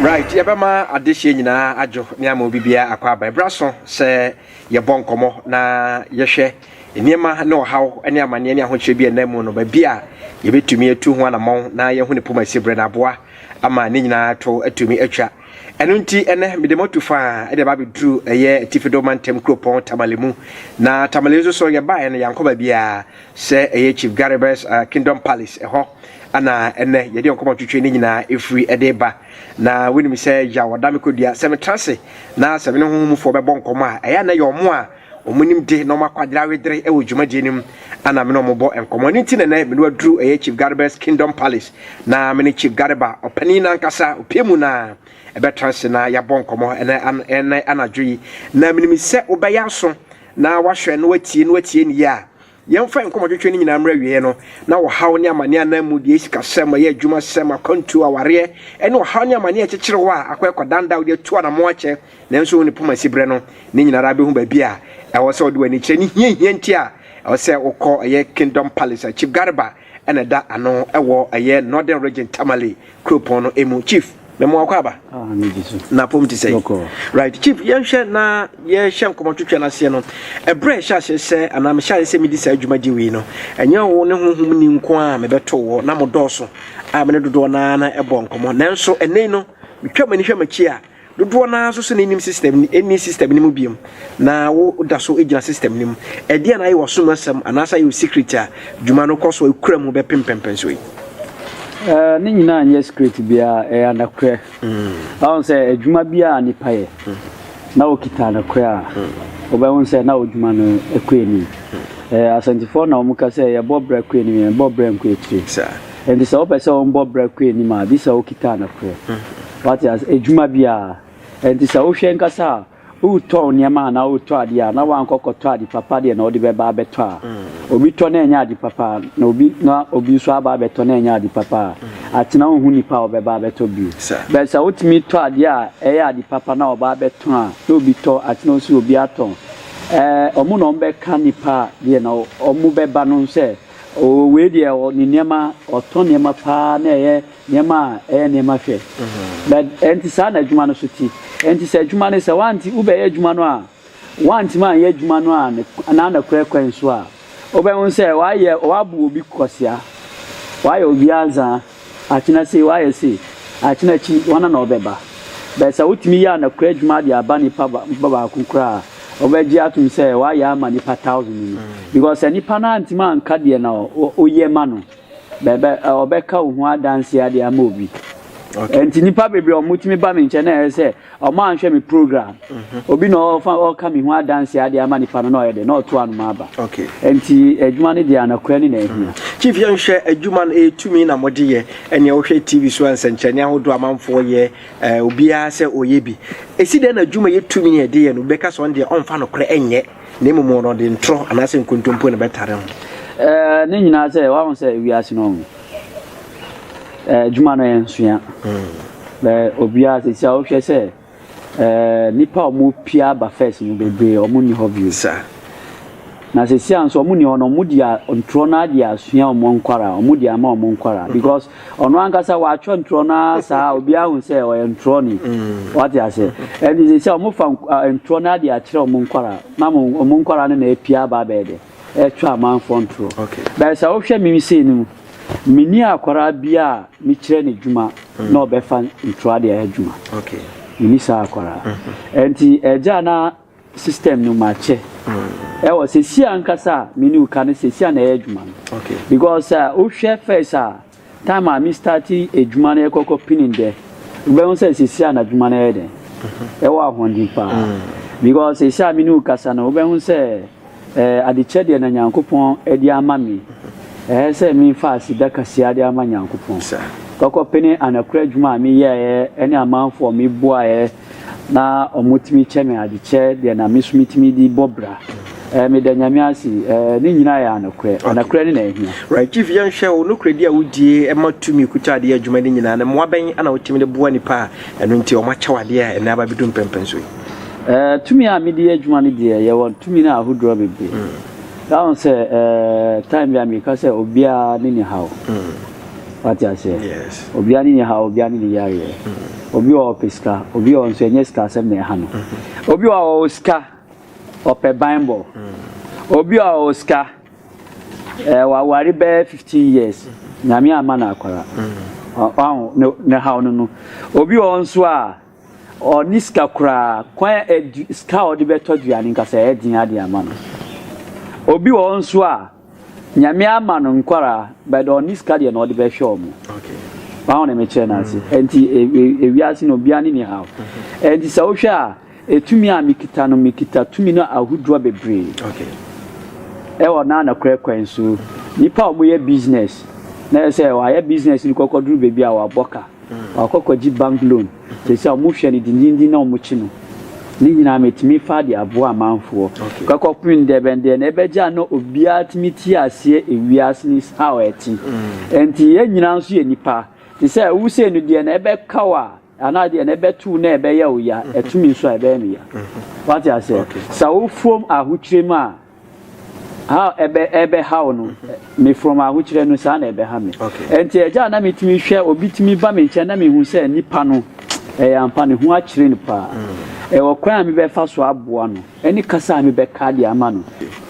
right yɛbɛma adehyeɛ nyinaa adwo ne ama obi biara akɔ aba ɛberɛ so sɛ yɛbɔ nkɔmmɔ na yɛhwɛ nneɛma ne ɔhaw ne amanneɛ ne ahokyerɛ bi a ɛnam mu no baabi a yɛbɛtumi atu ho anammɔn na yɛhu ne poma si berɛ no aboa ama ne nyinaa to atumi atwa. Ɛno nti, ɛnɛ mede mo atu faa de aba abɛduru ɛyɛ Atifi do Mantam kuropɔn Tamale mu. Na Tamale nso so yɛbaeɛ no yɛankɔ baabiara sɛ ɛyɛ Chief Garibus uh, Kingdom Palace ɛhɔ ana ɛnɛ yɛde nkɔmmɔ twetwe ne nyinaa ɛfiri ɛde ba. Na wonim sɛ yaw ɔda me kɔdua sɛ metra ase na sɛ me ne honhomfoɔ bɛbɔ nkɔmmɔ a ɛyɛ na yɛ ɔmo a Wɔn nimde na wɔn akwadare awedere wɔ dwumadie no mu na me ne wɔn bɔ nkɔmmɔ. Ɛno nti na ɛnɛ me ne waduru ɛyɛ Chief Gareba's Kingdom Palace na me ne Chief Gareba ɔpanin nankasa opie mu na ɛbɛtra ase na yɛabɔ nkɔmmɔ ɛnɛ an ɛnɛ anadwo yi. Na menim sɛ wobɛyɛ aso na wahwɛ na watie na watie ne yie a Yɛmfa yɛn nkɔmmɔtwetwe no nyinaa mmra awieeɛ no, na ɔhaw ne amaneɛ anaa mmudeɛ, sikasɛm, ɔyɛ adwumasɛm, akwantuo, awareɛ, ne ɔhaw ne amaneɛ a ɛkyekyere hɔ a akɔ ɛkɔdan da a wode atu anammɔn akyɛ nanso wo ne poma si berɛ no, ne nyina ara bɛhu baabi a ɛwɔ sɛ wode w'ani kyerɛ ne hiahia nti a ɛwɔ sɛ wokɔ ɛyɛ Kingdom Palace a Chief Garba na ɛda ano wɔ ɛyɛ Northern Region Tamale kuropɔn no mu. Chief, mɛmo akɔ aba. Ah, na pom te sɛ. Right, Chief, yɛnhwɛ na yɛhyɛ nkɔmɔ twitwa no aseɛ no. Ɛberɛ ɛhyɛ aseɛ sɛ anaa mehyɛ aseɛ sɛ medi saa dwumadie wei no, ɛnyɛ wo ne honhom ni nko a mebɛto wɔ na mo dɔɔso a me ne dodoɔ no ara na ɛbɔ nkɔmɔ. Nanso ɛnɛ no, metwa m'ani hwɛ m'akyi a, Dodoɔ no ara nso sɛ na nnim system no, nni system no mu biom, na wo da so gyina system no mu. Ɛdeɛn na ayɛ w'asom asɛm anaasɛ ayɛ wo secret a dwuma no kɔ so a ɛkura mu bɛpem mpɛnpɛnsoɔ yi? Ɛɛ, ne nyinaa nyɛ secret biara, ɛyɛ anokorɛ. Wahu sɛ adwuma biara a nipa yɛ na ɔkita anokorɛ a, wobɛhu sɛ na odwuma no kɔ anim. Ɛɛ, Asantefoɔ na wɔka sɛ yɛbɔ bra kɔ anim, yɛnbɔ bra nkɔ akyire. Saa. Ɛnti sɛ wopɛ sɛ wɔbɔ bra kɔ anim a, gye sɛ wokita anokorɛ. Wate ase? Adwuma bi a ɛnti sɛ wohwɛ ankasa a, woretɔn nneɛma anaa woretɔ adeɛ a, na woankɔ kɔtɔ ade papa deɛ na wode bɛba abɛtɔ a, obi tɔ na ɛnyɛ ade papa a, na obi na obi nso aba abɛtɔ na ɛnyɛ ade papa a, atena wonhu nipa a ɔbɛba abɛtɔ bio. But sɛ wotumi tɔ adeɛ a ɛyɛ ade papa na ɔba abɛtɔn a, na obi tɔ, atena wosi obi atɔn. Ɛɛ, wɔn na wɔbɛka nipa a deɛ na wɔbɛba no sɛ, oo wei deɛ ɔ ne nneɛma, ɔtɔ nneɛma paa na ɛyɛ Nneɛma a ɛyɛ nneɛma hwɛ. Na ɛnte saa na adwuma no so te. Ɛnte sɛ adwuma no, sɛ woante, wobɛyɛ adwuma no a, woantumi anyɛ adwuma no a ne, anaa nokorɛ kwan so a, wobɛhu sɛ woayɛ, woabu obi kwasea, woayɛ obi anzaa, akyena sei, woayɛ sei, akyena akyi, hwana na ɔbɛba? But sɛ wotumi yɛ anokorɛ adwuma de aba nipa ba, nipa baako koraa a, wobɛgye atom sɛ woayɛ ama nipa thousand no. Because sɛ nipa no antumi anka deɛ na wo, woyɛ ma no. Bɛbɛ ɔbɛka wo ho adanseɛ ade ama obi. Okay. Nti nipa bebree ɔmo tumi ba mi nkyɛn na ɛyɛ sɛ ɔmo anhwɛ mi program. Mhm. Obi na ɔfa ɔka mi ho adanseɛ ade ama nipa no na ɔyɛ dɛ na ɔto anoma aba. Okay. Nti adwuma no deɛ anɔkorɛ ne na ehia. Mhm. Chief yɛn hwɛ adwuma no etumi na mo de yɛ ɛnea wohwɛ TV so nsɛnkyerɛnne ahodoɔ amanfoɔ yɛ ɛɛ obiara sɛ ɔyɛ bi. Esi dɛn na adwuma yɛ tumi yɛ de yɛ no bɛka sɛ ɔn deɛ ɔnfa nokorɛ ɛnyɛ. Na mmom wɔn no, ɔde ntorɔ anaasɛ nkontompo na ɛbɛtare ho. Ɛɛ, ne nyinaa sɛ, wahu sɛ wiase no, ɛɛ, adwuma no yɛ nsoa. Bɛ obiara sisi a wohwɛ sɛ, ɛɛ, nnipa a wɔpia aba first no bebree, wɔn nni hɔ bio. Saa. Na sisi a nso wɔn nni hɔ no, wɔn deɛ ntorɔ no ara deɛ asua wɔn nkwaraa, wɔn deɛ ama wɔn nkwaraa because. Ɔno ankasa watwerɛ ntorɔ no ara saa obiara hu sɛ ɔyɛ ntorɔ ni wate ase ɛnti sɛ sɛ ɔmo fa ntorɔ no ade akyerɛ ɔmo nkwara na ɔmo nkwara no na apia aba abɛyɛ dɛ ɛtwa amanfoɔ ntorɔ bɛyɛ sɛ wohwɛ me sei no mu meni akwara bia a mekyerɛ no adwuma na ɔbɛfa ntorɔ ade ayɛ adwuma meni saa akwara ɛnti ɛgya na system no makyɛ ɛwɔ sɛsi ankasa a me ne wo ka no sɛsi a na ɛyɛ adwuma no because sɛ wohwɛ first a time a me start adwuma no ɛkɔkɔ pinin dɛ wobɛhu sɛ sɛsi a na adwuma no ɛyɛ dɛn ɛwɔ ahoɔden paa because sɛsi a me ne wo kasa no wobɛhu sɛ Ɛɛ adekyɛ deɛ na Nyankopɔn de ama me, ɛɛ sɛ me nfa aseda kaseɛ de ama Nyankopɔn. Kɔkɔ pene anakura adwuma a me yɛɛɛ ɛne amanfoɔ a me boaɛ na ɔmo tumi kyɛ me adekyɛ deɛ na me so me tumi de bɔ bra. Ɛɛ me da Nyame ase, ɛɛ ne nyinaa yɛ anokorɛ. Anokorɛ ne na ɛhia. Right chief yɛn hwɛ wo nokorɛdi a wo die ɛma tumi kuta adeɛ adwuma no nyinaa no mmoa bɛn na wo tumi de boa nipa a ɛno nti ɔmo akyɛ wo adeɛ a ɛnɛ aba bɛ du mpɛnpɛnso yi. Eh, tumi a mede yɛ adwuma no deɛ, yɛwɔ tumi no ahodoɔ bebree. Na ho sɛ, eh, time bi a meka sɛ obiara ne ne haw. Wate aseɛ? Yes. Obiara ne ne haw, obiara ne ne yareɛ. Obi wɔ hɔ ɔpɛ sika, obi wɔ hɔ nso ɛnyɛ sika asɛm na ɛha no. Obi wɔ hɔ ɔwɔ sika, ɔpɛ banbɔ. Obi wɔ hɔ ɔwɔ sika, eh, waware bɛyɛ 15 years, Nyame amma no akwara. Ɔ- ɔho, ne, ne haw no no. Obi wɔ hɔ nso a, Ɔnni sika koraa. Kwan a adu sika a ɔde bɛtɔ aduane nka sɛ ɛyɛ den ara de ama no. Obi wɔ hɔ nso a, Nyame ama no nkwadaa, but ɔnni sika deɛ na ɔde bɛhwɛ wɔn. Wahu deɛ mekyerɛ no ase? Ɛnti ewiase no obiara ne ne haw. Ɛnti sɛ wohwɛ a, etumi a mekita no, mekita tumi no ahodoɔ bebree. Ɛwɔ na nokorɛ kwan so. Nnipa a wɔyɛ business, na ɛsɛ sɛ wɔayɛ business no kɔkɔduru baabi a wɔabɔ ka. Ɔakɔ akɔgye bank loan, sɛsi a ɔmo hwɛ no dindindin na ɔmo kye no. Ne nyinaa metumi faa de aboa amanfoɔ. Kɔkɔ pen ndɛ bɛn deɛ na ɛbɛgye a na obiara tumi te aseɛ ewiase no is how ɛte. Ɛnti yɛn nyinaa nso yɛ nipa. Te sɛ wo sei no deɛ na ɛbɛka wo a anaa deɛ na ɛbɛto wo na ɛbɛyɛ wo ya, ɛto me nso a ɛbɛyɛ me ya. Wate aseɛ? Sɛ wo fom ahokyerɛ mu a. How ɛbɛ ɛbɛhaw no me from ahokyerɛ no saa na ɛbɛha me. Ɛnti ɛgya a na me tumi hwɛ obi tumi ba me nkyɛn na me hu sɛ nipa no ɛyɛ ampa ne ho akyerɛ no paa. Ɛwɔ kwan a me bɛ fa so aboa no ɛne kasa a me bɛ ka de ama no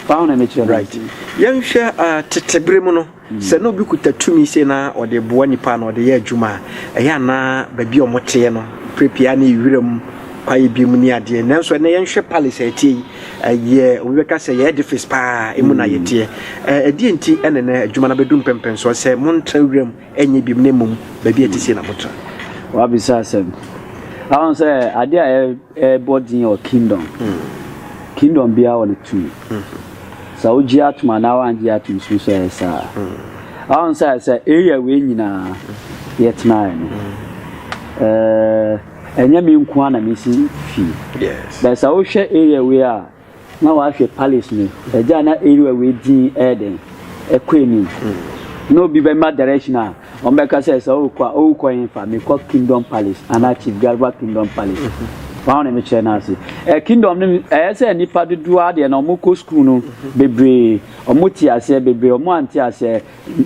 paa na me kyerɛ no ase. Yɛn hwɛ ah tete bere mu no. Sɛ na obi kuta tumi sei na ɔde boa nnipa na ɔde yɛ adwuma a, ɛyɛ a na baabi a wɔteɛ no, berɛ pii ara na ɛyɛ wiram kwaeɛ bi mu ne adeɛ. Nanso ɛnnɛ yɛnhwɛ palace a ɛteɛ yi, ɛyɛ, obi bɛka sɛ ɛyɛ edifice pa ara, emu na yɛteɛ. Ɛ, ɛdeɛn nti na ɛnnɛ adwuma no abɛdu mpɛmpɛnsoɔ sɛ montra wiram nyɛ biom na mmom baabi a ɛte sei na motra? Woabisa asɛm. Woahu sɛ adeɛ a Yɛbɔ dzin wɔ Kingdom, Kingdom biara wɔ no tum. Sɛ wogye atum anaa wɔanngye atum so so ɔyɛ saa. Ɔho sɛ sɛ area wei nyina yɛtsenae no, ɛnnyɛ me nkoaa na mesi fie. But sɛ wohwɛ area wei a, Na wahwɛ Palace no agya na area wei din ɛyɛ dɛn ɛkɔ anim na obi bɛma direction a wɔn bɛka sɛ sɛ ɔkɔ a ɔkɔ yɛn fa mekɔ Kingdom Palace anaa Chief Garba Kingdom Palace wɔn na mekyerɛ no ase ɛ Kingdom no ɛyɛ sɛ nipa dodoɔ adeɛ na wɔn kɔ school no bebree wɔn te aseɛ bebree wɔn ante aseɛ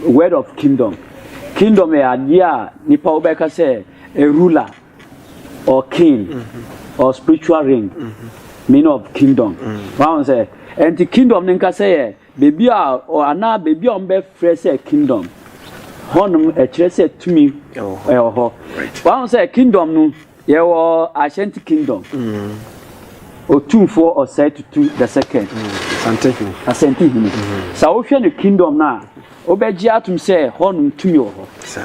word of Kingdom Kingdom yɛ adeɛ a nipa wobɛka sɛ a ruler or king mm-hmm. or spiritual ring mm-hmm. meaning of kingdom mm-hmm. wọn sɛ ɛnti kingdom ne nkasa yɛ beebi a anaa beebi a wɔn bɛ frɛ sɛ kingdom hɔnom ɛkyerɛ sɛ tumi ɛwɔ hɔ wọn sɛ kingdom no yɛ wɔ ashanti kingdom otumfoɔ ɔsɛe tutu the second asante hene sɛ wohwɛ no kingdom no a. Wobɛgye atom sɛ hɔnom tumi wɔ hɔ,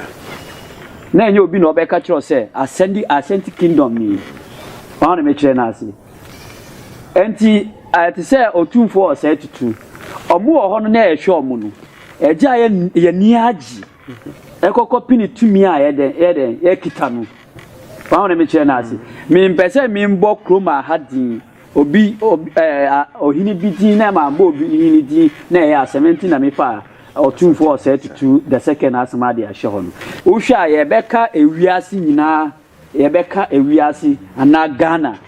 na ɛnyɛ obi na ɔbɛka akyerɛ wo sɛ asɛnde asɛnti kingdom ni. Wɔn na mekyerɛ no ase. Enti ayɛ te sɛ otumfoɔ wɔ saa tutu. Wɔn wɔ hɔ no na ɛhwɛ wɔn no. Ɛgye a yɛ yɛn ani agye. Ɛkɔkɔ pini tumi a yɛ dɛn yɛ dɛn yɛkita no. Wɔn na mekyerɛ no ase. Mempɛ sɛ membɔ kurom aha din. Obi, obi, ɛɛ, a, ɔhene bi din na ɛma bɔɔ obi hene din na ɛyɛ asɛm. Ɛnti na me faa ɔtumfoɔ ɔsɛɛ tutu the second asɛm ade ahyɛ hɔ no. Wo hwɛ a yɛ bɛ ka ewiase nyinaa, yɛ bɛ ka ewiase anaa Ghana.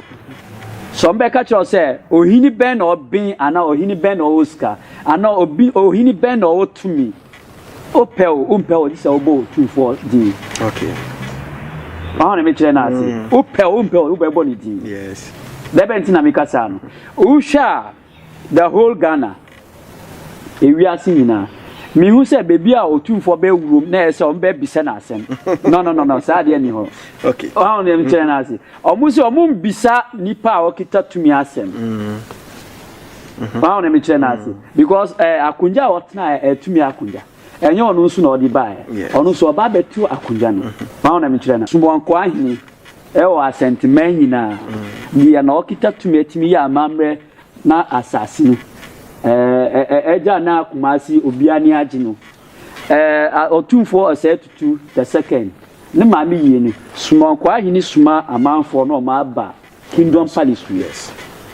Sɛ ɔmo bɛ ka kyerɛ wo sɛ ɔhene bɛn na ɔben anaa ɔhene bɛn na ɔwɔ sika anaa ɔbi, ɔhene bɛn na ɔwɔ tumi. Wopɛ o, wompɛ o, gye sɛ wobɔ Otumfoɔ din. Okay. Wɔn na mekyerɛ no ase. Mm. Wopɛ o, wompɛ o, wobɛbɔ ne din. Yes. Dɛbɛ nti na meka saa no. Wohwɛ a the whole Ghana, ewiase nyinaa, mehu sɛ baabi a Otumfoɔ bɛwurom na ɛyɛ sɛ wɔn bɛbisa no asɛm. No no no no, saa adeɛ ni hɔ. Okay. Wɔn na mekyerɛ no ase. Wɔn sɛ wɔn mbisa nipa a wɔkita tumi asɛm. Mm. wọn na mi kyerɛ n'ase hmm. because ɛɛ eh, akonnwa a ɔtena yɛ eh, ɛtumi akonnwa ɛnyɛ eh, ɔno nso na ɔde ba yɛ ɔno nso ɔba abɛtu akonnwa no mm-hmm. wọn na mi kyerɛ na sumɔnkɔ ahene ɛwɔ asɛnteman nyinaa mm. deɛ na ɔkita tumi ɛtumi yɛ amammerɛ na asase no ɛɛ ɛɛ ɛgya na akumasi obiara ni agye no ɛɛ ɔtumfoɔ ɔsɛ tutu the second ne maame yie no sumɔnkɔ ahene suma amanfoɔ na ɔmo aba. Kingdom Palace to yes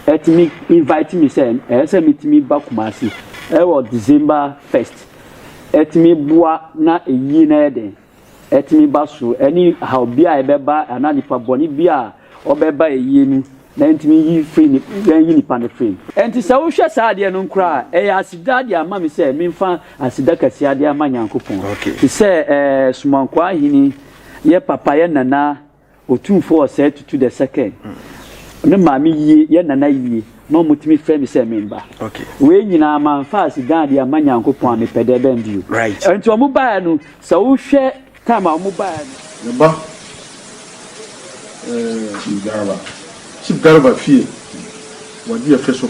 ɛtumi invite me sɛ ɛsɛ metumi ba Kumasi ɛwɔ December first ɛtumi boa na ɛyie na yɛ dɛn ɛtumi ba so ɛne how bia ɛbɛba ana nipa bɔne bia ɔbɛba ɛyie no na yɛntumi yi firi ne yɛnyi nipa no firi mu. Ɛnti sɛ wohwɛ saa adeɛ no nkora a ɛyɛ aseda de ama me sɛ menfa aseda kɛseɛ de ama Nyankopɔn okay. te sɛ ɛɛ Somankoa Ahene yɛ papa yɛ nana Otumfoɔ ɔsɛe tutu the second me maame yie yɛ nana yie ma wɔtumi frɛ me sɛ me mma wei nyinaa mamfa aseda adeɛ amma Nyankopɔn a mepɛ dɛ bɛn bio nti wɔn baeɛ no sɛ wohwɛ time a wɔn baeɛ no. Ne ba eh, Chief Garba fie wɔ Dua Fɛ so.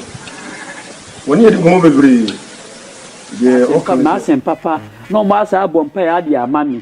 Wɔne yɛdi nkɔmmɔ bebree. Deɛ ɔka no. Asɛm papa na wɔn asan abɔ mpaeɛ adeɛ ama me.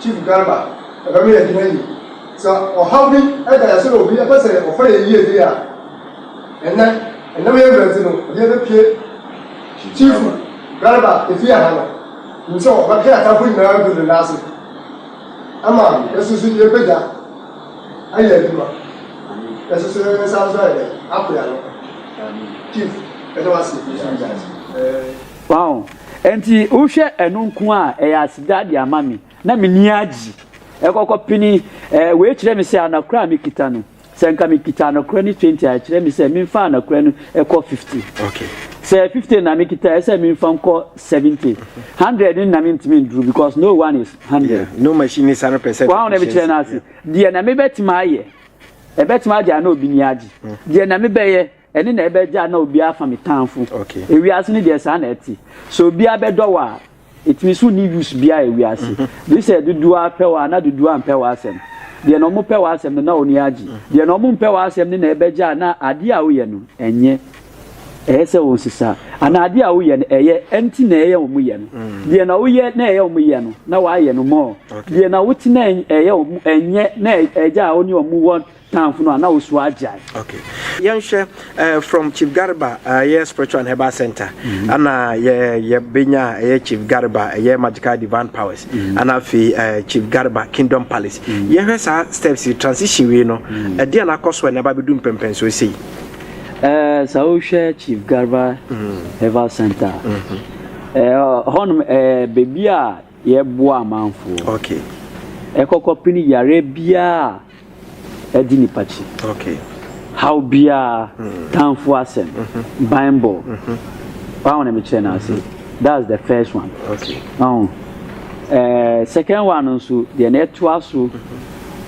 Chief Garba, ɛbɛ ma yɛ adwuma yie. Sɛ ɔhaw bi da yɛ so na obi pɛ sɛ ɔfa yɛ yie deɛ a, ɛnɛ ɛnam yɛ mmerɛ nti no, obiara bɛ pie. Chief Garba efie ha no, nim sɛ ɔbɛ ka yɛ atamfo nyinaa agu ne nan ase ama yɛ so so yɛ bɛgya ayɛ adwuma. Yɛ so so yɛ nsa so ayɛ dɛ, akoya no. Chief, yɛ da wo ase. Wahu? Enti wohwɛ ɛno nko a, ɛyɛ aseda de ama me, na m'ani agye. Ɛkɔkɔ pene, ɛɛ, wei kyerɛ me sɛ anakora a mekita no, sɛ nka mekita anakora no twenty a, ɛkyerɛ me sɛ memfa anakora no ɛkɔ fifty. Okay. Sɛ fifty na mekita, ɛsɛ sɛ memfa nkɔ seventy. Hundred no na mentumi nduru because no one is hundred. Yeah, no machine is hundred percent. Wahu na mekyerɛ no ase. Deɛ na mebɛtumi ayɛ, ɛbɛtumi agye a na obi ni agye. Deɛ na mebɛyɛ. Ɛne na ɛbɛ gyaa na obiara afa me tanfo ewiase no deɛ saa na ɛte sɛ obiara bɛdɔ wo a ɛtumi so nni use biara ewiase gye sɛ dodoɔ ara pɛ wo a na dodoɔ ara mpɛ w'asɛm deɛ na ɔmo pɛ w'asɛm no na ɔni agye deɛ na ɔmo mpɛ w'asɛm no na ɛbɛ gyaa na adeɛ a woyɛ no ɛnyɛ ɛyɛ sɛ wɔn sisa anaa adeɛ a woyɛ no ɛyɛ ɛnti na ɛyɛ ɔmo yɛ no deɛ na woyɛ na ɛyɛ ɔmo yɛ no na w'ayɛ no mɔɔ deɛ na wote na ɛyɛ ɔmo ɛnyɛ na ɛgya a ɔne ɔmo wɔ Tamfo no a na osu agyae. Okay yɛnhwɛ eh, from chief garba ɛyɛ eh, spiritual and herbal center mm-hmm. ana yɛ yɛbɛnya ɛyɛ eh, chief garba ɛyɛ magical divine powers mm-hmm. ana afei eh, chief garba kingdom palace mm-hmm. yɛhwɛ saa steps transition wei no ɛde a nakɔ so a na ɛba bɛdu mpɛmpɛn so sei eh, sɛ wohwɛ chief garba herbal center eh, hɔnom eh, baabi a yɛboa amanfoɔ okay. ɛkɔkɔ pini yare biara di nipa akyi, haw biara, tanfo asɛm, banbɔ, wahu wɔn na me kyerɛ no ase, that's the first one, wahu, ɛɛ second one no nso deɛ na ɛtoa so,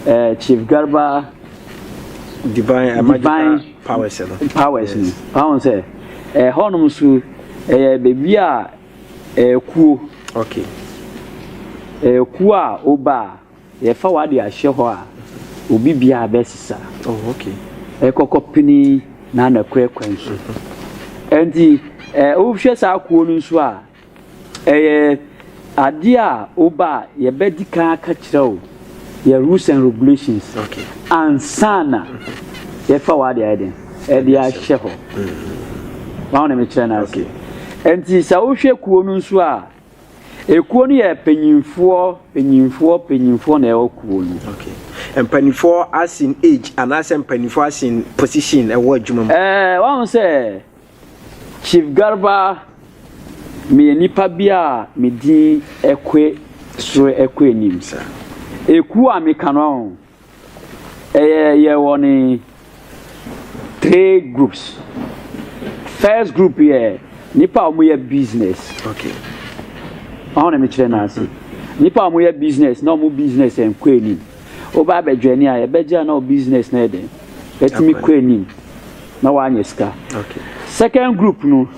ɛɛ Chief Garba divine, uh, divine powers no powers no wɔn sɛ ɛhɔnom nso ɛyɛ beebi a ɛkuo okay ɛkuo a ɔba a Yɛfa w'ade ahyɛ hɔ a, obi biara bɛsesa. Oh, okay. Ɛkɔkɔ pini na anakorɛ kwan so. Ɛnti, eh, wohwɛ saa kuo no nso a, ɛyɛ adeɛ a woba a yɛbɛdi kan aka kyerɛ wo yɛ rules and regulations. Okay. Ansa na yɛfa w'ade ayɛ den, ɛde ahyɛ hɔ. Wɔn na mekyerɛ no ase. Ɛnti, sɛ wohwɛ kuo no nso a, Ekuo no yɛ panyinfoɔ panyinfoɔ panyinfoɔ na ɛwɔ kuo no. Okay. Mpanimfoɔ as in age anaasɛ mpanimfoɔ as in position ɛwɔ adwuma mu. Ɛɛ eh, wɔn sɛ Chief Garba meyɛ nipa bi a me din ɛkɔ soro ɛkɔ anim. Ekuo a meka no Ɛyɛ yɛ wɔn three groups. First group yɛ nipa a wɔyɛ business. Okay. Wɔn na mekyerɛ no ase. Nipa a wɔyɛ business na wɔn business nkɔ anim. Woba abɛdwa ni a yɛbɛgye a na wɔn business na yɛ den. Ɛtumi kɔ anim na wɔanyɛ sika. Okay. Second group no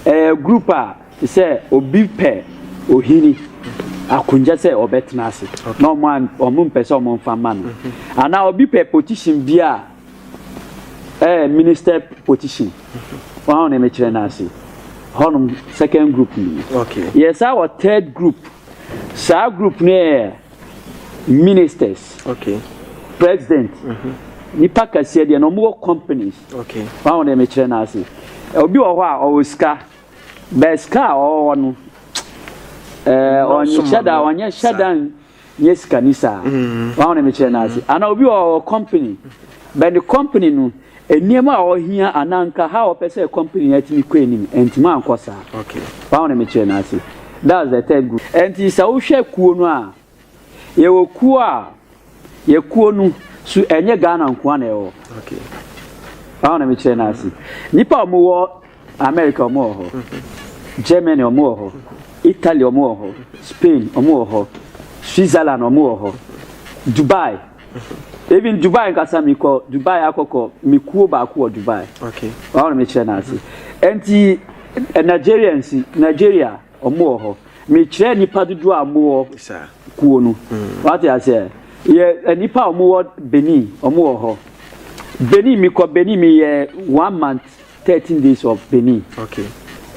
ɛyɛ group a. Te sɛ obi pɛ ohini akonnwa sɛ ɔbɛtena ase na ɔmo an ɔmo mpɛ sɛ ɔmo nfa ma no anaa obi pɛ position bi a ɛɛ eh, minister position wɔn a na ɛmɛkyerɛ no ase hɔnom second group ni yɛ saa wɔ third group saa group no yɛ ministers president nipa kɛseɛ deɛ na ɔmo wɔ companies wɔn a na ɛmɛkyerɛ no ase obi wɔ hɔ a ɔwɔ sika. But sika a ɔwɔ no ɛɛ ɔnhyɛ da ɔnyɛ hyɛ da nyɛ sikani saa mm. wɔn na mekyerɛ n'ase mm. ana obi ɔwɔ company but the company no nneɛma a ɔhia ananka ha ɔpɛ sɛ company no atumi kɔ anim ntumi ankɔ saa wɔn na mekyerɛ n'ase that's the third group ɛnti sɛ wohwɛ kuo no a Yɛwɔ kuo a, yɛ kuo no so ɛnyɛ Ghana nkoa na ɛwɔ. Wɔn na mekyerɛ no ase. Nnipa a wɔwɔ America wɔn wɔ hɔ, mm-hmm. Germany wɔn wɔ hɔ, mm-hmm. Italy wɔn wɔ hɔ, mm-hmm. Spain wɔn wɔ hɔ, Switzerland wɔn wɔ hɔ, Dubai. Even Dubai nkasa mi kɔ Dubai akɔkɔ mi kuo baako wɔ Dubai. Wɔn na mekyerɛ no ase. Nti eh, Nigerians Nigeria. Wɔwɔ hɔ. Mekyerɛ nnipa dodoɔ a wɔwɔ kuo no. Wate aseɛ? Yɛ nnipa a wɔwɔ Benin, wɔwɔ hɔ. Benin, mekɔ Benin, meyɛ one month, thirteen days of Benin. Okay.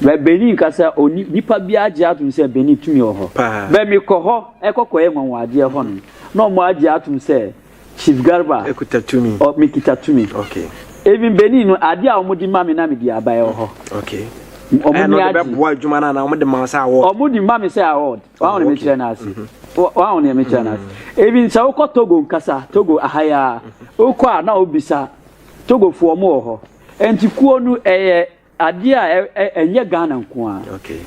Bɛ Benin kasa, oni nipa bi agye atom sɛ Benin tumi wɔ hɔ. Paa. Bɛ mekɔ hɔ, ɛkɔkɔyɛ nwanwadeɛ hɔ no, na wɔn agye atom sɛ Chief Garba. Ekuta tumi. Ɔ me kita tumi. Okay. Even Benin no ade a wɔn de ma me na me de aba ɛwɔ hɔ. Okay. Wɔn ni agye. Ɛna ɔde bɛ boa adwuma na na wɔn de ma sɛ award. Wɔn de ma me sɛ award. Wɔn ahɔn mi kyerɛ n'ase. Wɔn ahɔn mi kyerɛ n'ase. Even sɛ wokɔ Togo nkasa Togo ahaya wokɔ a na obisa Togo fo wɔn wɔ hɔ. Nti kuo no ɛyɛ Adeɛ a ɛnyɛ Ghana nko ara. Okay.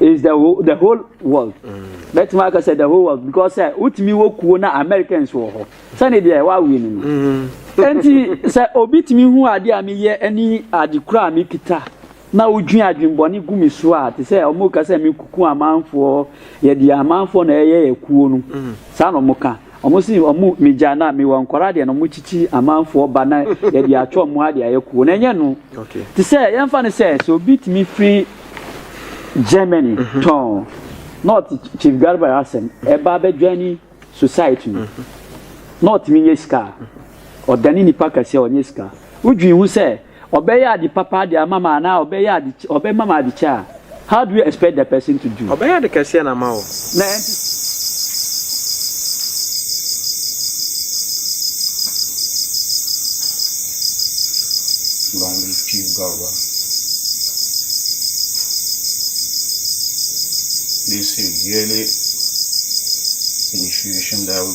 Is the whole, the whole world. Bɛtumi mm. aka sɛ the whole world because sɛ wotumi wɔ kuo na Americans wɔ hɔ sɛne deɛ ɛwɔ awie no no. Mm-hmm. Nti sɛ obi tumi hu adeɛ a meyɛ ɛne ade kura a mekita na wodwin adwenbɔne gu me so a te sɛ wɔn ka sɛ mekuku amanfoɔ yɛde amanfoɔ na ɛyɛ yɛ kuo no mm-hmm. saa na wɔn ka Ɔmo se ɔmo megyaa no a mewɔ nkwadaa deɛ na ɔmo kyikyi amanfoɔ ba na yɛde atwe ɔmo ha de ayɛ kuo na ɛnyɛ no te sɛ yɛnfa no sɛ sɛ obi tumi firi Germany tɔn na ɔte Chief Garba asɛm ɛba abɛdwani society no na ɔtumi nyɛ sika a ɔdane nipa kɛseɛ ɔnyɛ sika wodwin ho sɛ Ɔbɛyɛ ade papa de ama me anaa ɔbɛyɛ ade ɔbɛma me ade kyɛ a, how do you expect the person to do? Ɔbɛyɛ ade kɛseɛ na ama wo. Na ɛnte saa. Long live Chief Garba. They say yearly initiation that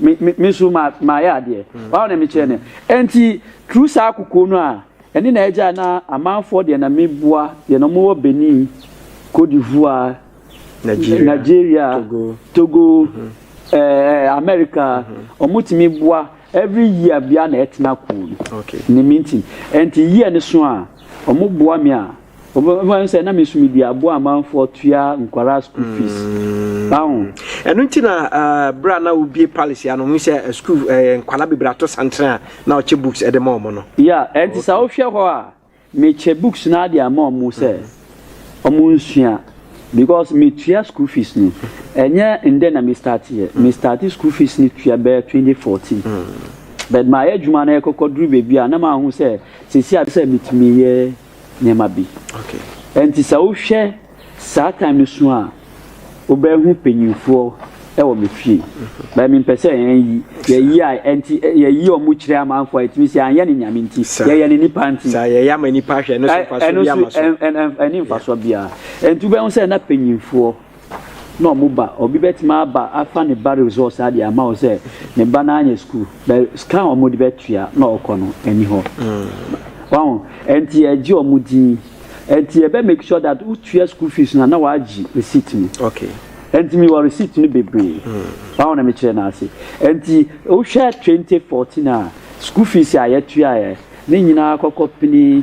Me me me nso ma mayɛ adeɛ. Why na mekyerɛ no. Ɛnti through saa kokoɔ no a ɛne na ɛgyae na amanfoɔ deɛ na meboa deɛ na wɔwɔ Benin, Cote d'Ivoire, Nigeria, Togo, ɛɛ America wɔtumi boa every year biara na ɛtena kuo no. Ne me nti. Ɛnti year no so a wɔboa me a. Wɔbɛfa no sɛ na me so medi aboa amanfoɔ tua nkwadaa school fees. Aho. Ɛno nti na berɛ a na wobie palace ya no hu sɛ school nkwadaa bebree ato santere a na ɔkyɛ books de ma wɔn no. Ya, ɛnti sɛ wohwɛ hɔ a mekyɛ books no ade ama wɔn sɛ wɔn nsua because metua school fees no ɛnyɛ ndɛ na me start yɛ me start school fees no tua bɛyɛ 2014 but mayɛ adwuma no ɛkɔkɔ duru baabi a na mahu sɛ sɛsi a sɛ metumi yɛ. nneɛma bi. Ɛnti sɛ wohwɛ saa time no so a, wobɛhu panyinfoɔ ɛwɔ me fie. Mhm. Bɛn mi mpɛ sɛ yɛn yi, yɛn yi a ɛnti yɛn yi ɔmo kyerɛ amanfoɔ a ɛtumi sɛ anyɛ ne nyame nti, yɛyɛ ne nipa nti. Saa yɛyɛ ama nipa hwɛ ɛno so nfa so bi ama so. Ɛno so ɛni nfa so biara. Ɛnti wobɛhu sɛ na panyinfoɔ. na ɔmo ba obi bɛtumi aba afa ne ba resɔs adeɛ ama wo sɛ ne ba no anyɛ sukuu bɛ sika a ɔmo de bɛtua na ɔkɔ no ɛni hɔ wahu ɛnti ɛgye ɔmo din ɛnti ɛbɛ make sure that wotua sukuu fees no na wagye receipt no okay ɛnti mi wɔ receipt no bebree wahu na mekyerɛ no ase ɛnti wohwɛ 2014 a sukuu fees a yɛtuaeɛ ne nyinaa kɔkɔ pini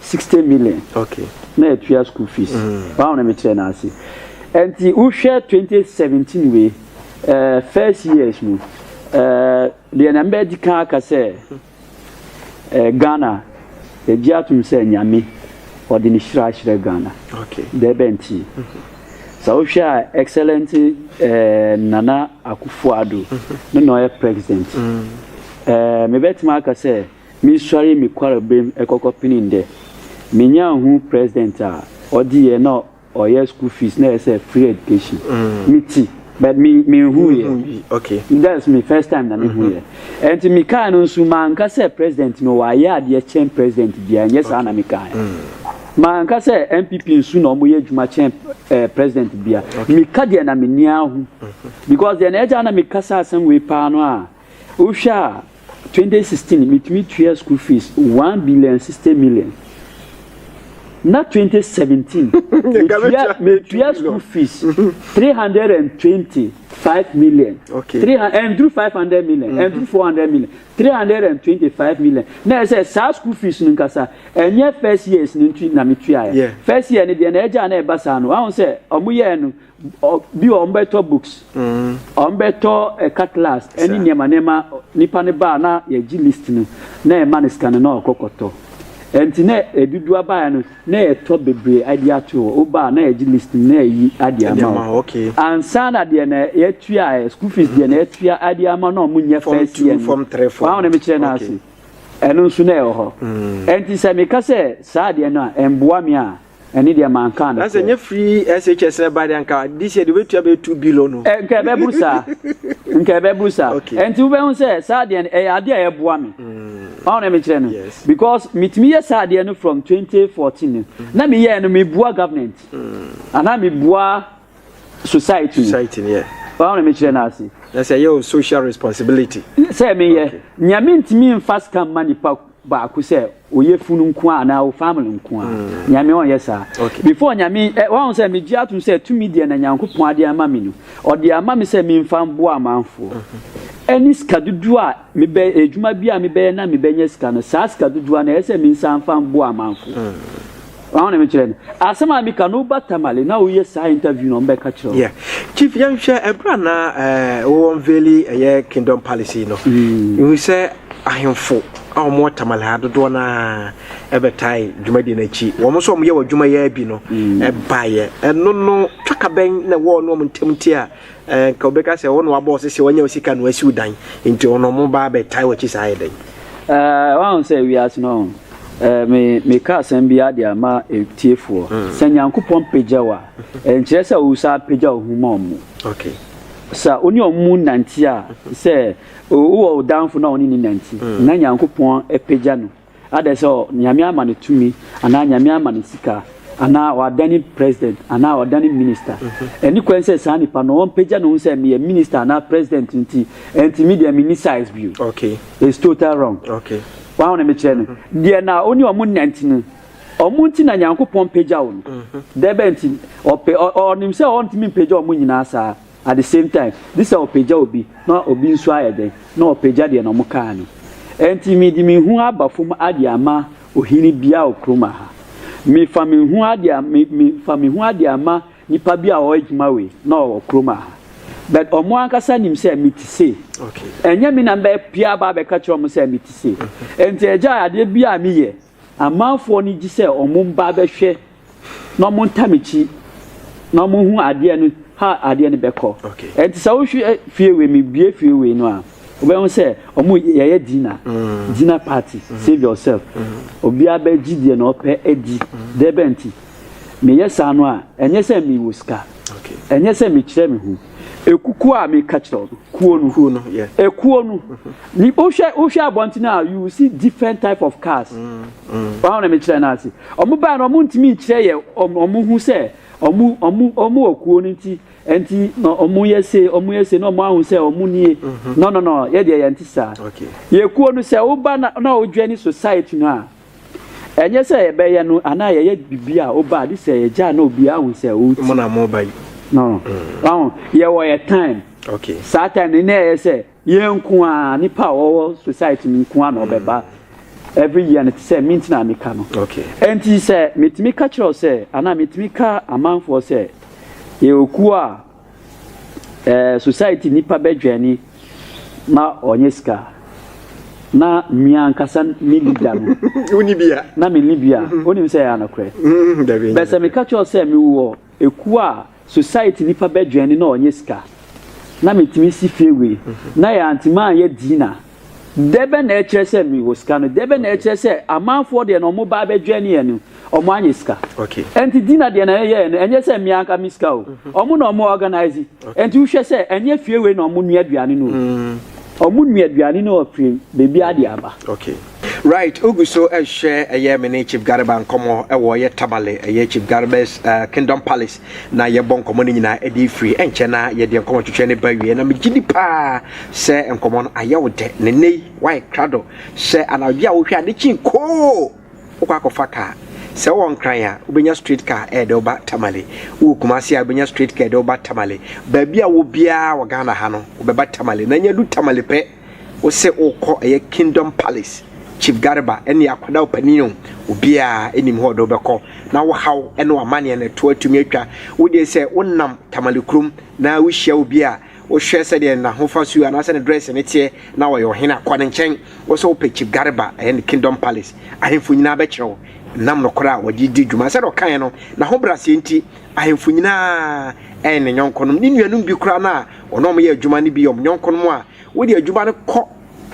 sixty million na yɛtua school fees baawo na mekyerɛ no ase nti wohwɛ twenty seventeen wei ɛɛ eh, first years no ɛɛ eh, deɛ na mbɛdi kan aka sɛ ɛɛ eh, Ghana yɛgye atom sɛ nyame ɔde ne hyira ahyerɛ Ghana deɛ bɛ nti sɛ wohwɛ a excellent ɛɛ Nana Akufo-Addo ne na ɔyɛ president ɛɛ mebɛtumi aka sɛ. Mesuaree me kwarbamu kɔkɔpenee ndɛ. Menyaa hun president a ɔdze yɛ na ɔyɛ school fees na ɛsɛ free education. Me tse but me mennhuu yɛ. That's me first time na mehuu yɛ. Ɛnti me kaa no nso manka sɛ president no wayɛ adeɛ kyɛn president biara nyɛ saa na me kaa yɛ. Manka sɛ NPP nso na wɔyɛ adwuma kyɛn eh president biara. Me ka deɛ na me ni ahu because deɛ na ɛgyaa na me ka saa asɛm wei paa no a. Wohwɛ a, twenty sixteen mitumi tua school fees one billion and sixty million. Na twenty seventeen metua metua school fees three hundred and twenty five million. Okay. Three and through five hundred million and through four hundred million three hundred and twenty five million. Na ɛsɛ saa school fees no nkasa ɛnyɛ first years no nti na metua yɛ. First year no deɛ na ɛgya na ɛba saa no ahun sɛ ɔmo yɛ no. Bi wɔ hɔ wɔbɛtɔ books, wɔbɛtɔ cutlass ne nneɛma nneɛma. Nipa no ba a na yɛgye list no na yɛma no sika no na ɔkɔ kɔtɔ. Nti na ɛdudu abaeɛ no na yɛtɔ bebree adi ato hɔ. Woba a na yɛgye list no na yɛyi adi ama wo. Ansa na deɛ na yɛtua ɛ, school fees deɛ na yɛtua adi ama na wɔn nyɛ first year no. W'ahu deɛ mekyerɛ no ase? Ɛno nso na ɛwɔ hɔ. Nti sɛ meka sɛ saa adeɛ no a ɛmboa me a. ɛne deɛ mankaa no na sɛ nyɛ firi shs ɛba deɛ nka this year deɛ wobɛtua bɛyɛ 2 billion no nka ɛbɛboro saa nka ɛbɛboro saa ɛnti wobɛhu sɛ saa deɛ no ɛyɛ adeɛ a ɛboa me ɔho na mekyerɛ no because metumi yɛ saa deɛ no from 2014 no na meyɛɛ no meboa government anaa meboa society society ni yɛ ɔn na mekyerɛ no ase na sɛ ɛyɛ o social responsibility sɛ meyɛ okay. nea mentumi mfa sika mma nipa baako sɛ oyɛ funu nko a anaa o family nko a mm. nyame ɔnyɛ saa okay. before nyame eh, wɔn sɛ megye atom sɛ tumi deɛ na nyankopɔn ade ama me no ɔde ama me sɛ memfa mboa amanfoɔ mm-hmm. ɛne sika dodoɔ a mebɛ adwuma bi a mebɛyɛ na mebɛnyɛ sika no saa sika dodoɔ na ɛyɛ sɛ mensa mfa mboa amanfoɔ mm. Wɔn na mekyerɛ no asɛm a meka no woba Tamale na woyɛ saa interview na wɔbɛka kyerɛ wo. Yeah. Chief yɛnhwɛ ɛberɛ a na eh, wo unveili ɛyɛ Kingdom Palace yi no. Mm. Ihu sɛ ahemfo a wɔn wɔ Tamale ha dodoɔ no ara ɛbɛtae dwumadie no akyi. Wɔn nso wɔn yɛ wɔ adwuma yɛ bi no ɛbaeɛ. Mm. Ɛno no twakabɛn na ɛwɔ ɔno wɔn ntam nti a Anka wobɛka sɛ wo na wabɔ wo sɛ sɛ wanya wo sika na wasi wo dan, nti ɔno ɔmo ba abɛtae w'akyi saa ayɛ dɛn? Eh, woahu sɛ wiase no ɔho eh, me, meka asɛm biara de ama atiefoɔ. Mm. Sɛ Nyankopɔn pagya wo a, ɛnkyerɛ sɛ wosa apagya wo ho ma ɔmo. Okay. Sɛ wo ne ɔmo nante a, sɛ wowɔ wo danfo na ɔne ne nante, mm. na Nyankopɔn pagya no. Adɛn sɛ Nyame ama no tumi anaa Nyame ama no sika anaa ɔadane president anaa ɔadane minister? Ɛnni kwan sɛ saa nipa no ɔmpagya ne ho sɛ meyɛ minister anaa president nti ɛnti me deɛ menni size bio. It's total wrong. Wahu ne mekyerɛ no? Deɛ na wo ne ɔmo nante no, ɔmo nti na Nyankopɔn pagya wo no. Dɛbɛn nti? Ɔpɛ, ɔ, ɔnim sɛ ɔntumi mpagya ɔmo nyinaa saa. At the same time, gye sɛ ɔpagya obi na obi nso ayɛ dɛn? Na ɔpagya deɛ na wɔkaa no. Ɛnti mede me ho aba fam ade ama ohene bi a wɔ kurom ha. Mefa me ho ade a, me, me, fa me ho ade ama nipa bi a ɔwɔ adwuma wei na ɔwɔ kurom ha. But wɔn ankasa nim sɛ mete sei. Okay. Ɛnyɛ me na mbɛpia aba abɛka kyerɛ wɔn sɛ mete sei. Ɛnti agya adeɛ bi a meyɛ, Amanfoɔ no gye sɛ ɔmo mba abɛhwɛ na ɔmo nta m'akyi na ɔmo hu adeɛ no how adeɛ no bɛkɔ. Ɛnti sɛ wohwɛ fie wei me bue fie wei no a wobɛhu sɛ ɔmo yɛyɛ dinner dinner party save yourself obiara bɛgye deɛ na ɔpɛ adi dɛbɛn nti meyɛ saa no a ɛnyɛ sɛ me wɔ sika ɛnyɛ sɛ me kyerɛ me ho. ekukuo a meka kyerɛ wo kuo no kuo no yeah. ekuo no ni wohwɛ wohwɛ abɔnten a you will see different type of cars mm, mm. wɔn na mekyerɛ no ase wɔn baa no wɔn ntumi nkyerɛ yɛ wɔn ho sɛ wɔn wɔn wɔn wɔ kuo no nti nti na wɔn yɛ se wɔn yɛ se na wɔn ahu sɛ wɔn nie mm-hmm. no no no yɛ deɛ yɛn ti saa yɛ kuo no sɛ woba na na wodwa ni society no a. Ɛnyɛ sɛ yɛbɛyɛ no anaa yɛyɛ biribi a woba a gye sɛ yɛgya na obiara hu sɛ woti. Mo na mo ba yi. No. Wahu, yɛwɔ yɛ time. Okay. Saa time no na ɛyɛ sɛ yɛn nko a nipa a wɔwɔ society no nko a na ɔbɛba. Every year no te sɛ me nti na meka no. Okay. Ɛnti sɛ metumi ka kyerɛ wo sɛ anaa metumi ka amanfoɔ sɛ yɛwɔ kuo a. Ɛɛ society nipa bɛ dwɛni ma ɔnyɛ sika na mmea ankasa ne leader no woni bia na me ne bia mhm. wonim sɛ ɛyɛ anokorɛ mhm, bɛ sɛ meka kyerɛ sɛ mewɔ ekuo a society nipa bɛ dwɛni na ɔnyɛ sika na metumi si fie wei mhm. na yɛ antema a yɛ dina Dɛ bɛn na ɛkyerɛ sɛ mewɔ sika no? Dɛ bɛn na ɛkyerɛ sɛ amanfoɔ deɛ na wɔba abɛdwɛn yɛn no, wɔanyɛ sika? Ɛnti Dina deɛ na yɛyɛɛ no, ɛnyɛ sɛ me anka me sika o. Wɔn na wɔn organise. Ɛnti wohwɛ sɛ ɛnyɛ fie wei na wɔn nua aduane no o. Wɔn nua aduane no afiri baabiara de aba. Right, wogu so rehwɛ ɛyɛ me ne Chief Garba nkɔmmɔ ɛwɔ ɛyɛ Tamale ɛyɛ Chief Garba's uh, Kingdom Palace na yɛbɔ nkɔmmɔ no nyinaa de firi ɛnkyɛ na yɛde nkɔmmɔ twetwe ne ba wie na megye di paa sɛ nkɔmmɔ no ayɛ wo dɛ ne nnɛ yi woayɛ krado sɛ anadwo a wohwɛ a ne kyin koo wokɔ akɔfa kaa sɛ wowɔ nkran a wobɛnya straight car ɛde eh, woba tamale wowɔ kumase a wobɛnya straight car ɛde woba tamale baabi a wɔ biara wɔ ghana ha no wobɛba tamale na nya du tamale pɛ Wose wokɔ ɛyɛ kingdom palace chief garba ɛne akwadaa ɔpanin o obiaa ɛnim hɔ ɔde wobɛkɔ na wo haw ɛne wamaneɛ no ɛtoɔ atumi atwa wodeɛ sɛ wonam tamale kurom na wohyia obi a wohwɛ sɛdeɛ nahofa suo anaasɛ ne dress ne teɛ na ɔyɛ ɔhene a kɔ ne nkyɛn wo sɛ wopɛ chief garba ɛyɛ ne kingdom palace ahemfo nyinaa bɛkyerɛ wo nam nokorɛ a wɔde di dwuma sɛdeɛ ɔkaeɛ no na ho braseɛ nti ahemfo nyinaa ɛyɛ ne nyɔnkonom ne nuanom bi koraa no a Wɔn a wɔyɛ adwuma no bi yɛ wɔn yɔnkonom a wode adwuma no kɔ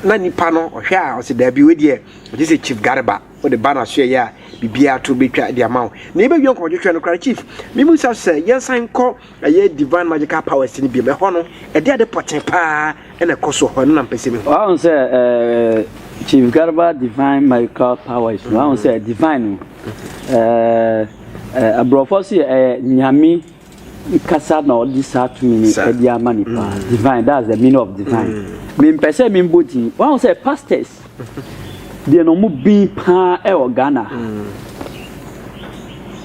na nipa no ɔhwɛ a ɔsɛ daabi wei deɛ ɔgye sɛ chief garba wode ba na soɛ yɛ a biribiara to bɛtwa de ama wo na yɛbɛwie nkɔmɔtwetwɛ no koraa chief memu sa sɛ yɛnsan nkɔ ɛyɛ divine magical powers no biom ɛhɔ no ɛde ade pɔten paa ɛna ɛkɔ so hɔ no na mpɛ sɛ mehu wahu sɛ chief garba divine magical powers wahu sɛ divine no aborɔfoɔ so yɛ ɛyɛ nyame kasa na ɔde saa tumi no Sa- ɛde ama nipa mm. divine that's the meaning of divine mm. mempɛ sɛ membɔ din wahu sɛ pastors deɛ na ɔmo bin paa ɛwɔ ghana mm.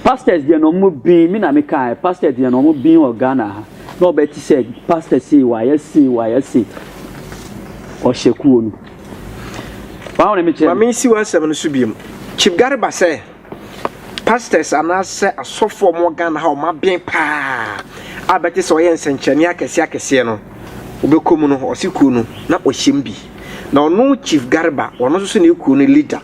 pastors deɛ na ɔmo bin me na meka pastors deɛ na ɔmo bin wɔ ghana ha na ɔbɛ ti sɛ pastor sei wayɛ sei wayɛ sei ɔhyɛ kuo no wahu ne mekyerɛ maame nsi w'asɛm no so biom kyip gare ba sɛ Pastors anaasɛ asɔfo a wɔn wɔ Ghana ha a wɔn aben paa a bɛte sɛ ɔyɛ nsɛnkyerɛnne akɛseɛ akɛseɛ no wobɛkɔ mu no ɔse kuo no na ɔhyɛ mu bi na ɔno Chief Garba ɔno nso so ne kuo no leader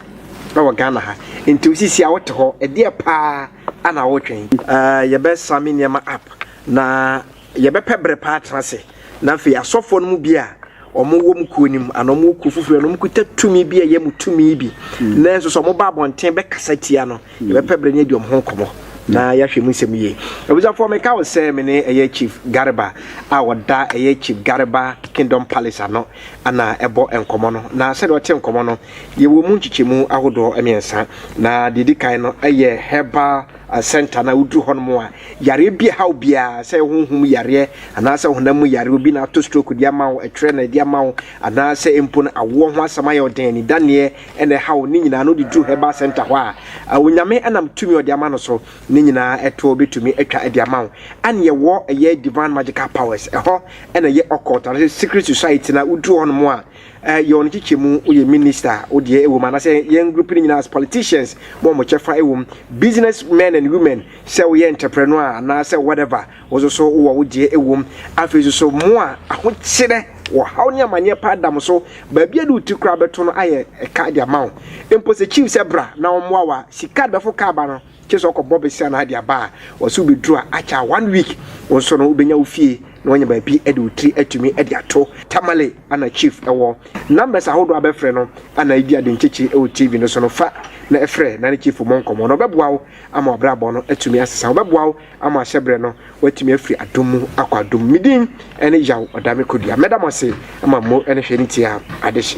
ɛwɔ Ghana ha nti wosisi a wote hɔ ɛdeɛ paa ana wotwɛn. Ɛɛ yɛbɛ same nneɛma up na Yɛbɛpɛ bere pa atena ase, na afei asɔfoɔ no mu bi a wɔwɔ mo kuo no mu anaa wɔwɔ kuo foforɔ anaa wɔkuta tumi bi a ɛyɛ mo tumi bi na nso sɛ wɔba abɔnten bɛkasa tia no, yɛbɛpɛ bere ne adi wɔn ho nkɔmmɔ na yɛahwɛ mu nsɛm yie. Abusuafoɔ, meka wo sɛ me ne ɛyɛ Chief Garba a ɔda ɛyɛ Chief Garba Kingdom Palace ano na ɛbɔ nkɔmmɔ no, na sɛdeɛ ɔte nkɔmmɔ no, yɛwɔ mu nkyekyɛmu ahodoɔ mmiɛnsa, na deɛ ɛdi kan no yɛ herbal Asɛnta no a woduru hɔ nom a, yareɛ bi ɛhaw biara, sɛ ɛyɛ honhom mu yareɛ anaa sɛ honam mu yareɛ, obi na ato stroke de ama wo, ɛtwerɛ na ɛde ama wo, anaa sɛ mpo no awoɔ ho asɛm ayɛ wo den, anidaneɛ na ɛhaw wo, ne nyinaa no wode duru Herbal Centre hɔ a, Onyame nam tumi a ɔde ama no so no nyinaa ɛtoɔ bɛtumi atwa de ama wo. Ɛne yɛwɔ ɛyɛ Divine Magical Powers, ɛhɔ na ɛyɛ Occult anaa sɛ Secret Society no a woduru hɔ nom a, Eh yɛ wɔn kyekyɛ mu wo yɛ minister wo deɛ ɛwɔ mu anasɛ yɛn group no nyinaa as politicians mo wɔn kyɛfa ɛwɔ mu business men and women sɛ woyɛ entrepreneur a anaasɛ whatever wo nso so wowɔ wo deɛ ɛwɔ mu afei nso so mo a ahokyerɛ wɔ haw ne amaneɛ paa da mo so baabi a de wo ti koraa bɛto no ayɛ ɛka de ama wo mpo sɛ chief sɛ bra na wɔn mmoa wa sika bɛfo kaa ba no Gye sɛ ɔkɔ bɔ besia na ade aba a ɔsɛ wo bɛduru a akyɛ a one week wo nso no wobɛnya wo fie na wanya baabi de wo tiri atumi de ato. Tamale ana chief wɔ numbers ahodoɔ a bɛfrɛ no ana ɛdi ade nkyekyere wɔ TV no so no fa na frɛ na ne chief mmɔ nkɔmmɔ na ɔbɛboa wo ama w'abrabɔ no atumi asesa ɔbɛboa wo ama ahyɛ berɛ no woatumi afiri adom mu akɔ adom mu. Me din ne Yaw Ɔdame Kodua mɛda mo ase ama mmo ne hwɛ ne tie a adehye.